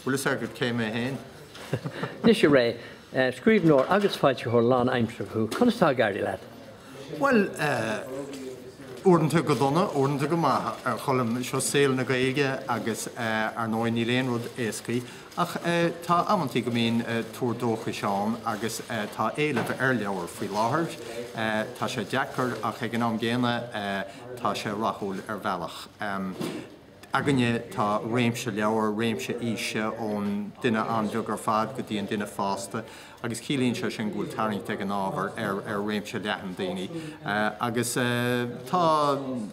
Bhfuil fhios agat cé mé fhéin? Anois a Ré, scríbhneoir agus foilsitheoir lán aimseartha thú, conas tá ag éirí leat? Bhuel eh. uaireanta go dona, uaireanta go maith a Cholm, seo saol na Gaeilge agus eh ar ndóigh níl aon rud éasca ach eh tá amantaí go mbíonn eh tuar dóchais ann agus eh tá éileamh ar leabhair faoi láthair. Eh tá sé deacair ach ag an am gcéanna eh tá sé rathúil ar bhealach. Em. againne tá réimse leabhar, réimse aoise ón duine an-bheag ar fad go dtí an duine fásta agus ciallaíonn sé sin go bhfuil tarraingt ag an ábhar ar réimse leathan daoine agus tá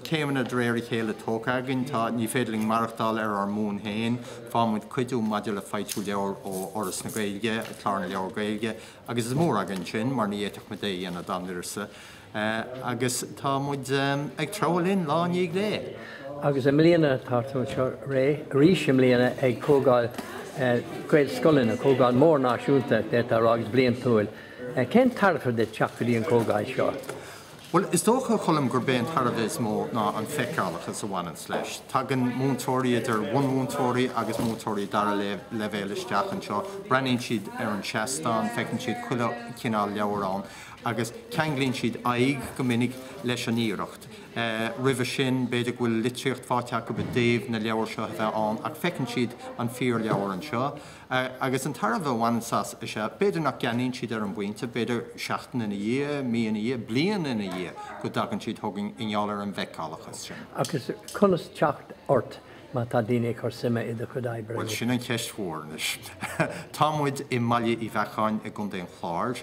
céimeanna de réir a chéile tógtha againn. Tá, ní féidir linn maireachtáil ar ár mbonn féin, faighimid cuidiú maidir le foilsiú leabhar ó Fhoras na Gaeilge, Clár na Leabhar Gaeilge, agus is mór againn sin mar ní fhéadfadh muid é a dhéanamh dá n-uireasa. agus tá muid ag treabhadh linn lá i ndiaidh lae. Agus i mbliana tá tú anseo arís i mbliana ag Comhdháil Gaelscoileanna, comhdháil mhór náisiúnta d'fhéadfá a rá agus bliantúil. Cén tairbhe duit teacht go dtí an chomhdháil seo? Bhuel, is dócha, a Cholm, gurb é an tairbhe is mó ná an feiceálachas a bhaineanns leis. Tagann múinteoirí, idir bhunmhúinteoirí agus múinteoirí dara leibhéal isteach anseo, breathnaíonn siad ar an seastán, feiceann siad chuile chineál leabhar ann, agus ceanglaíonn siad aghaidh go minic leis an iarracht. Roimhe sin, b'fhéidir go bhfuil litríocht faighte acu i dtaobh na leabhar seo a bheith ann, ach feiceann siad an fíorleabhar anseo. Agus an tairbhe a bhaineanns as is ea, b'fhéidir nach gceannaíonn siad ar an bpointe, b'fhéidir seachtain ina dhiaidh, mí ina dhiaidh, bliain ina dhiaidh go dtagann siad chugainn i ngeall ar an bhfeiceálachas sin. Agus conas teacht ort má tá daoine ag cur suime i do chuid oibre? Bhuel, sin an cheist mhór anois. Tá muid i mBaile Uí Bheacháin i gContae an Chláir.